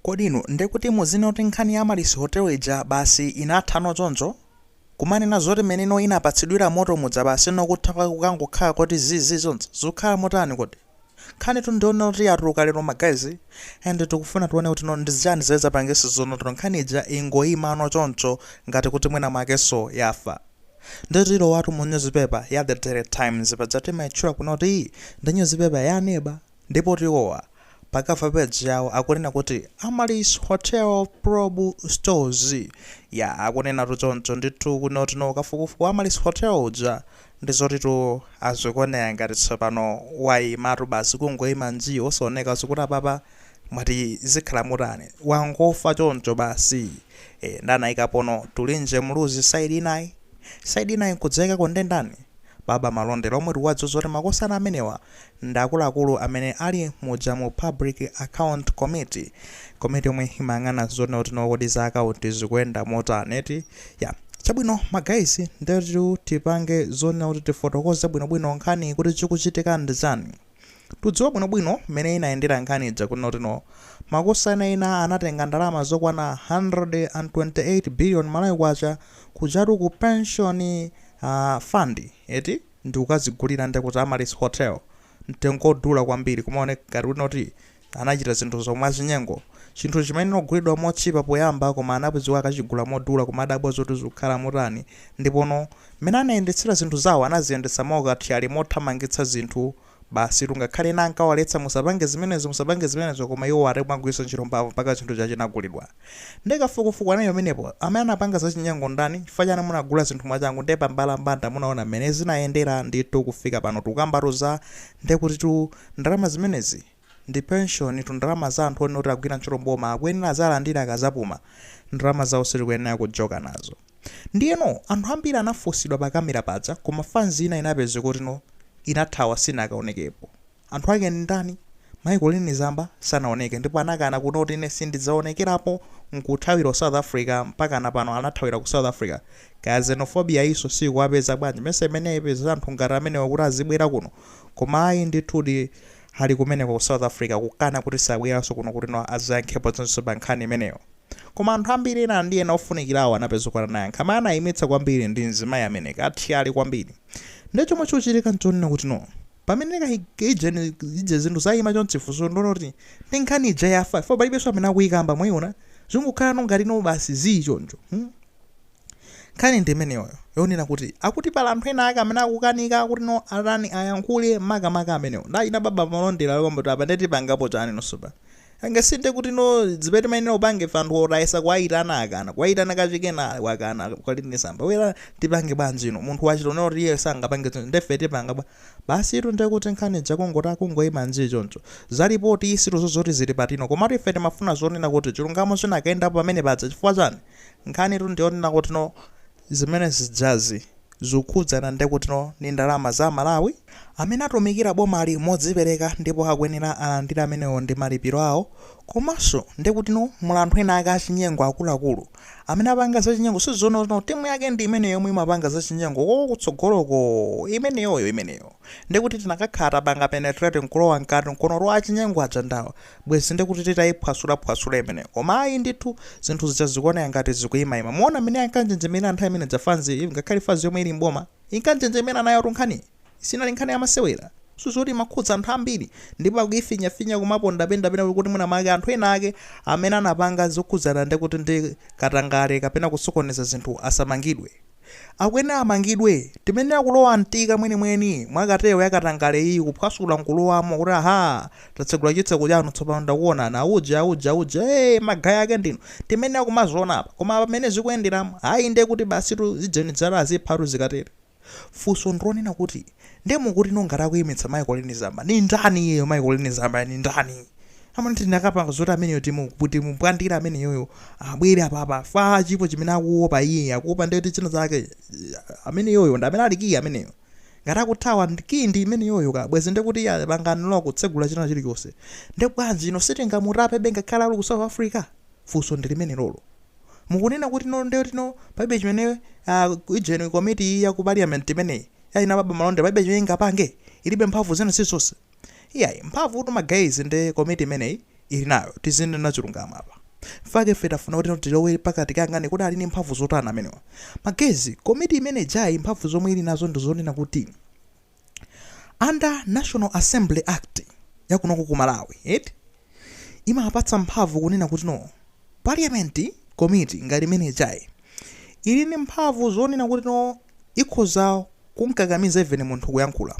Kodi inu ndekuti muzinena kuti nkhani ya Amaryllis Hotel ija basi inathano choncho? Kumanena zoti mmene ino inapatsidwira moto muja basi ino kutha kwake kukangokhala koti zi zi chonchi? Zikukhala motani kodi? Nkhanitu ndiyonena kuti yatuluka lero ma guys and tikufuna tione kuti no ndi chani zimene zapangisa zonoti no nkhani ija ingoyimano choncho ngati kuti mwina mwakeso yafa. Ndiye tilowatu mu nyuzipepa ya The Daily Times paja timaitchula kuno kuti iyi ndi nyuzipepa ya aneba. Ndipotu iwowa pa cover page yawo akunena kuti Amaryllis Hotel Probe Stalls. Yaa akunenatu choncho ndithu kunoti no kafukufuku wa Amaryllis Hotel uja ndi zotitu zikuoneka ngati tsopano waimatu basi kungoima njii osaoneka zikuti apapa mwati zikhala motani? Wangofa choncho basi? Eeh nde anaikapono Tulinje Muluzi side inayi? Side inayi nkudziwika kuti nde ndani? Baba Malondera omwe tikuwadziwa zoti makosana amenewa ndi akuluakulu amene ali muja mu Public Account Committee, komiti yomwe imayang'ana zonena kuti no kodi za akaunti zikuyenda motani eti, ya. Chabwino ma guys ndetu tipange zonena kuti tifotokoze bwinobwino nkhaniyi kuti chikuchitika ndi chani. Tikudziwa bwinobwino mmene inayendera nkhani ija kunena kuti no makosana ena anatenga ndalama zokwana 128 billion Malawi kwacha kujatu ku pension uh, fund eti ndikukazigulira ndekuti Amaryllis Hotel mtengo odula kwambiri kumaoneka ngati kuti noti Anachita zinthuzo mwachinyengo. Chinthu chimene ogulidwa motchipa poyamba koma anapezeka akachigula modula kumadabwa zoti zukhala motani ndipo no mmene anayendetsera zinthu zawo anaziyendetsa mwaukathyali mothamangitsa zinthu basitu ngakhale ena ankawaletsa musapange zimenezo musapange zimenezo koma iwo ayi kumagwiritsa ntchito mphamvu mpaka chinthu chija chinagulidwa nde kafukufuku anali pamenepo amene anapanga zachinyengo ndani chifukwa chani munagula zinthu mwachangu nde pambalambanda munaona mmene zinayendera ndithu kufika pano tikukambatu za nde kutitu ndalama zimenezi ndi pension tu ndalama za anthu onoti akugwira ntchito mboma akuyenera azalandire akazapuma ndalama zawo sitikuyenera kujoka nazo ndiyeno anthu ambiri anafunsidwa pa camera paja koma fanz ina inapezeka kuti no inathawa sinakaonekepo anthu ake ndi ndani mai Colleen Zamba sanaoneke ndipo anakana kuno kuti ine sindidzaonekerapo nkuthawira ku south africa mpakana pano anathawira ku south africa kaya xenophobia yinso siyikuwapeza bwanji mesa imene yaipeza anthu ngati amenewa kuti azibwera kuno Koma ayi ndithudi Ali kumeneko ku South Africa kukana kuti sabwelanso kuno kuti no azayankhepo zonse pa nkhani imeneyo. Koma anthu ambiri ena ndi ena ofunikilawo anapezeka kuti anayankha. Amene anayimitsa kwambiri ndi mzimayi amene kathyali kwambiri. Nde chomwe chikuchitika nchonena kuti no pamene ka ija ni ija zinthu zayima chonchi funso ndoloti ndi nkhani ija yafa chifukwa palibenso amene akuyikamba mwayiona zingokhala no ngati no basi zii choncho. Hmm? Nkhani ndi imeneyoyo yonena kuti akuti pali anthu ena ake amene akukanika kuti no atani ayankhule makamaka amenewo ndi a Baba Malondera lomba kuti apa ndeti pangapo chani nonso pa anga si nde kuti no zibe timayenera kupanga ife anthu tayesa kuwayitana akana kuwayitana kachikenanso wakana kali ndi Zamba bwera tipange bwanji no munthu wasonyeza kuti iye sangapange zinthu ndefe tipanga bwanji basi itu nde kuti nkhani ija kungoti ikungoyima nji choncho za lipoti isitu zozoti zili patino komatu ife timafuna zonena kuti chilungamo chinakayendapo pamene paja chifukwa chani Nkhanitu ndi yonena kuti no zimene zijazi zikukhudzana ndi kuti no ndi ndalama za Amalawi amene atumikira bomali modzipereka ndipo akuyenera alandire amenewo ndi malipiro awo komanso ndi kuti no muli anthu ena ake achinyengo akuluakulu amene apanga zachinyengo sizoona kuti no timu yake ndi imeneyo yomwe imapanga zachinyengo konko kutsogoloko imeneyoyo imeneyo ndi kuti tinakakhala tapanga penetrate nkulowa mkati nkuona kuti achinyengo aja ndawa Bwezi nde kuti titayiphwasula phwasula imeneyo koma ayi ndithu zinthu zija zikuoneka ngati zikuyimayima. Muona mmene ankanjenjemerera nthawi imene ija fanzi izi ngakhale fanzi yomwe ili m'boma inkanjenjemera nayotu nkhaniyi sinali nkhani ya masewera. Zinthu zoti imakhudza anthu ambiri ndipo akuyifinyafinya kumapondaponda pena kuti mwina mwake anthu ena ake amene anapanga zokhudzana ndekuti ndi katangale kapena kusokoneza zinthu asamangidwe. Akuyenera amangidwe. Timayenera kulowa mtima mwenimweni mwa cartel ya katangale iyi kuphwasula nkulowamo kuti ahaa tatsegula chitseko chanu tsopano takuonani auje auje auje ee magayi ake ndinu timayenera kumaziona apa koma apa mmene zikuyenderamu ayi nde kuti basitu zijeni zalaziphatu zikatere. Funso ndi lonena kuti nde mukuti no ngati akuimitsa Colleen Zamba nindani iyeyo Colleen Zambayo nindani? amene tinakapanga zoti ameneyo timu timumbwandire ameneyoyo abwere apapa chifukwa chilipo chimene akuopa iye akuopa ndeti china chake ameneyoyo ndi amene ali kiyi ameneyo ngati akuthawa ndi kiyi ndi imeneyoyo ka bwezi ndi kuti iye pangani lowa kutsegula china chilichonse ndi bwanji ino sitingamutape be ngakhale ali ku south africa funso ndi limenelolo mukunena kuti no nde kuti no palibe chimene uh, ijeni komiti ya ku parliament imeneyi ya a Baba Malondera palibe chimene ingapange ilibe mphamvu zina zilizonse Iyayi mphamvutu ma guys nde komiti imeneyi ilinayo tizinena chilungamo apa nchifukwa chake ife tafuna kuti tilowe pakati tikayang'ane kuti ali ndi mphamvu zotani amenewa ma guys komiti imeneijayi mphamvu zomwe ili nazo ndi zonena kuti under national assembly act yakunoko ku malawi eti imapatsa mphamvu kunena kuti no parliament komiti ngati imeneijayi ili ndi mphamvu zonena kuti no ikhoza kumkakamiza even munthu kuyankhula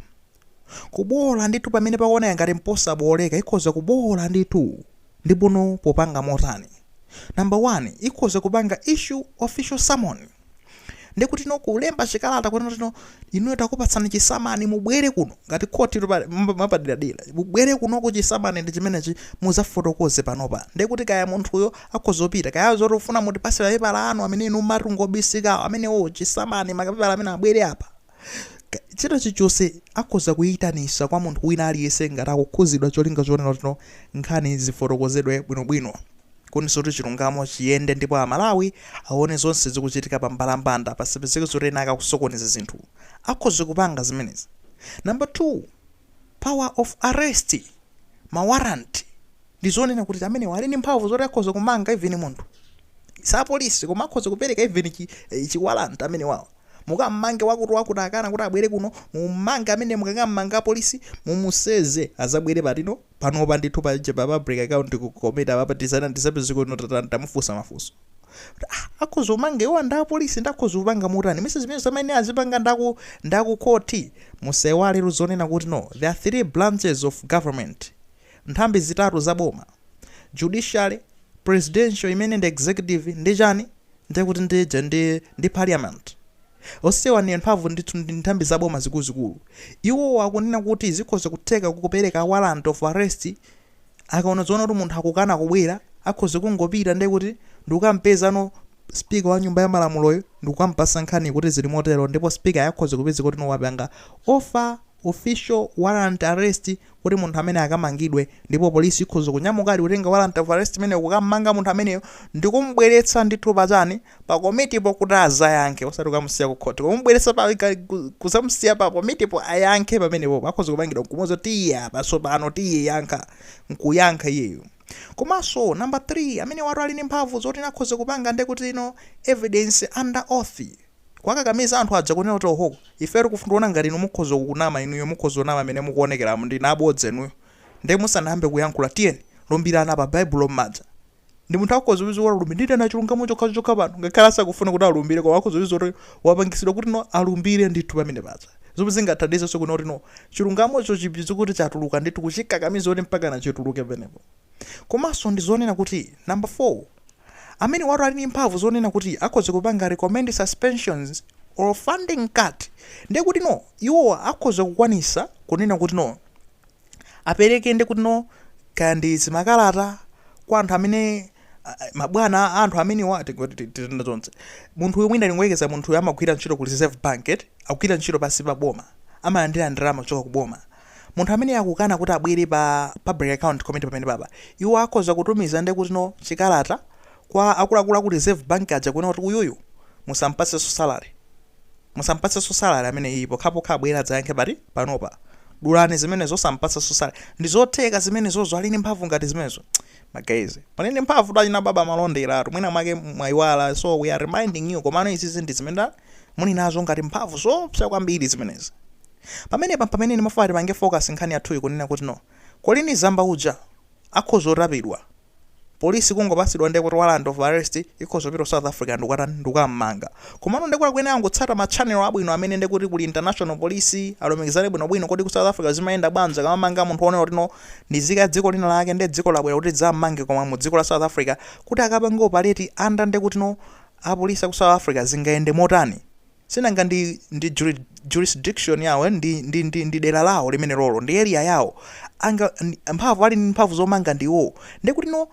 Kuboola ndithu pamene pakuoneka ngati mposabooleka ikhoza kuboola ndithu ndipono popanga motani? Number one ikhoza kupanga issue official summon ndikutino kulemba chikalata kunatino inuyo takupatsani chisamani mubwere kuno ngati khoti mwapaderadera mubwere kuno kuchisamani ndi chimenechi muzafotokoze panopa ndikuti kaya munthuyo akhoza kupita kaya zoti ufuna mutipasira pepala anu amene inu mmati ngobisikawo amenewo chisamani makapepala amene abwere apa Ka- china chilichonse akhoza kuyitanisa kwa munthu wina aliyense ngati akukhuzidwa cholinga chonena kuti no nkhani zifotokozedwe bwinobwino kuniso kuti chilungamo chiyende ndipo amalawi aone zonse zikuchitika pa mbalambanda pasapezeke zoti ena akukusokoneza zinthu akhoza kupanga zimenezi number 2 power of arrest mawaranti ndi zonena kuti amenewa ali ndi mphamvu zoti akhoza kumanga even munthu sapolisi koma akhoza kupereka even chi, eh, chiwaranti amenewawo Mukammange wakuti wakuti akana kuti abwere kuno mummange amene mukakammanga apolisi mumuseze azabwere patino panopa ndithu paja pa public account ku komiti papa tizapeze kuno tatani tamufunsa mafunso kuti ah akhoza kumanga iwo ndi apolisi akhoza kupanga motani mesa zimenezo zamene azipanga nda ku nda ku khoti musaiwale zonena kuti no there are three branches of government nthambi zitatu za boma judiciary presidential imene ndi executive ndi chani Ndikuti ndi ija ndi, ndi Parliament? Onsewa ndi amphamvu ndithu ndi nthambi za boma zikuluzikulu. Iwowa akunena kuti zikhoza kutheka kupereka warrant of arrest, akaona zoona kuti munthu akukana kubwera, akhoza kungopita ndikuti ndi kukamupeza no Speaker wa Nyumba ya Malamuloyo ndikukamupatsa nkhaniyo kuti zili motero ndipo Speakeryo akhoza kupezeka kuti no wapanga offer official warrant arrest kuti munthu ameneyo akamangidwe ndipo polisi ikhoza kunyamuka ali kutenga warrant of arrest imeneyo kukammanga munthu ameneyo ndikumubweretsa ndithu pa chani pa komitipo kuti azayankhe osati kukamusiya ku khoti kumubweretsa pa kuzamusiya pa komitipo ayankhe pamenepo akhoza kumangidwa nkumuza tiye apa tsopano tiye yankha nkuyankha iyeyo komanso number 3 amenewatu ali ndi mphamvu zoti akhoza kupanga ndekuti no evidence under oath kuwakakamiza anthu aja kunena kuti ohoo ifeyo tikuona ngati inu mukhoza kunama inuyo mukhoza kunama mmene mukuonekeramu ndinu abodza inuyo nde musanayambe kuyankhula tiyeni lumbirani apa baibulo mmanja ndi munthu akhoza kudziwa kuti alumbira ndinena chilungamo chokhachoka pano ngakhale asakufuna kuti alumbire koma akhoza kudziwa kuti wapangitsidwa kuti no alumbire ndithu pamene paja zomwe zingathandizenso kuti no chilungamocho chipezeke kuti chatuluka ndithu kuchikakamiza kuti mpakana chituluke pamenepo komanso ndi zonena kuti number 4 Amenewatu ali ndi mphamvu zonena kuti akhoza kupanga recommend suspensions or funding cut ndiye kuti no iwowa akhoza kukwanisa kunena kuti no apereke ndiye kuti no kaya ndi zimakalata kwa anthu amene mabwana a anthu amenewa titenda zonse munthu uyu mwina tingoyerekeza munthu uyu amagwira ntchito ku reserve bank eti akugwira ntchito pansi pa boma amalandira ndalama kuchoka ku boma Munthu ameneyo akukana kuti abwere pa Public Account Committee pamenepapa. Iwo akhoza kutumiza ndekuti no chikalata kwa akuluakulu aku Reserve Bank aja kunena kuti uyuyu musampatsenso salary. Musampatsenso salary ameneyiyi pokhapokha abwere adzayankhe pati? Panopa. Dulani zimenezo osampatsanso salary. Ndi zotheka zimenezozo ali ndi mphamvu ngati zimenezo? Ma guys, muli ndi mphamvutu achina Baba Malonderatu. Mwina mwake mwayiwala so we are reminding you komano izizi ndi zimene muli nazo ngati mphamvu zoopsa kwambiri zimenezi. Pamenepa mpamene ndimafuna tipange focus nkhani yathuyi kunena kuti no colleen zamba uja akhoza kutapidwa police kungopasidwa ndekuti warrant of arrest ikhoza kupita ku south africa ndikukatani ndikukammanga komano ndekuti akuyenera angotsata ma channel abwino amene ndekuti kuli international police alumikizane bwinobwino kodi ku south africa zimayenda bwanji akamamanga munthu onena kuti no ni zika ya dziko lina lake nde dziko labwera kuti lidzammange koma mu dziko la south africa kuti akapange operate under ndekuti no apolice aku south africa zingayende motani Sinanga ndi, ndi juri, jurisdiction yawo, ndi, ndi, ndi, ndi dera lawo limenelolo, ndi area yawo, anga, ndi, mphamvu, ali ndi mphamvu zomanga ndi iwowo. Ndiye kuti no,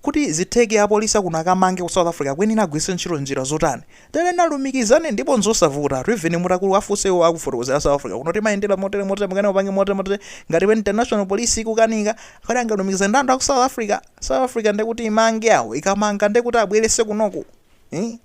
kuti zitheke apolisi akuno akamange ku South Africa akuyenera agwiritse ntchito njira zotani? Ayenera alumikizane ndipo nzosavutatu, even mutakawafunsa iwowo akufotokozera a South Africa kuno timayendera motere motere mukane mupange motere motere, ngati pa international police ikukanika, kodi angalumikizane ndi anthu aku South Africa? South Africa ndiye kuti imange awo, ikamanga ndiye kuti abweretse kunoko, ii?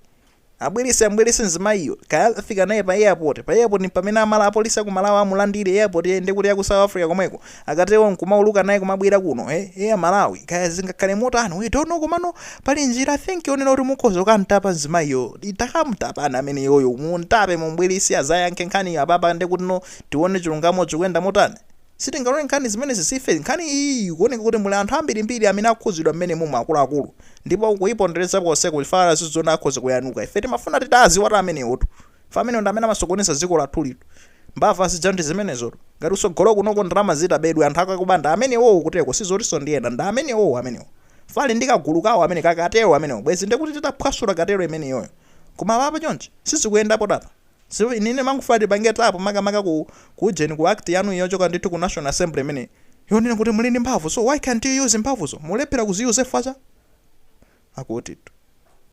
Abwerese ambwerese mzimayiyo kaya akafika naye pa airport pa airport mpamene amala apolice akumalawi amulandile airport ee ndekuti yaku south africa komweko akatero nkumauluka naye kumabwera kuno ee ee amalawi kaya zingakhale motani we don't know komano pali njira i think yonena kuti mukhoza kukamtapa mzimayiyo takamtapani ameneyoyo mumtape mumbwerese azayankhe nkhaniyo apapa ndekutino tione chilungamo chikuyenda motani Sitingalore nkhani zimenezi zife nkhani iyiyi ikuoneka kuti muli anthu ambirimbiri amene akukhudzidwa mmenemu mu akuluakulu ndipo kuipondereza konseku chifukwa aziziona akhoza kuyaluka ife timafuna titawaziwatu amenewotu chifukwa amenewo ndi amene amasokoneza dziko lathulitu mbava zija ndi zimenezotu ngati kutsogolo kunoko ndalama zitabedwe anthu akakuba ndi amenewowo kuteroku sizotinso ndi ena ndi amenewowo amenewo chifukwa ali ndi kagulu kawo amene ka cartel amenewo bwezi ndekuti titaphwasula cartel imeneyoyo koma apapa chonchi sizikuyendapotu apa So ine ndimangofuna tipange tap makamaka ku ku ujeni ku act yanuyi yochoka ndithu ku national assembly imeneyi yonena kuti muli ndi mphamvu so why can't you use mphamvuzo? Mukulephera kuziuse chifukwa cha. Akutitu.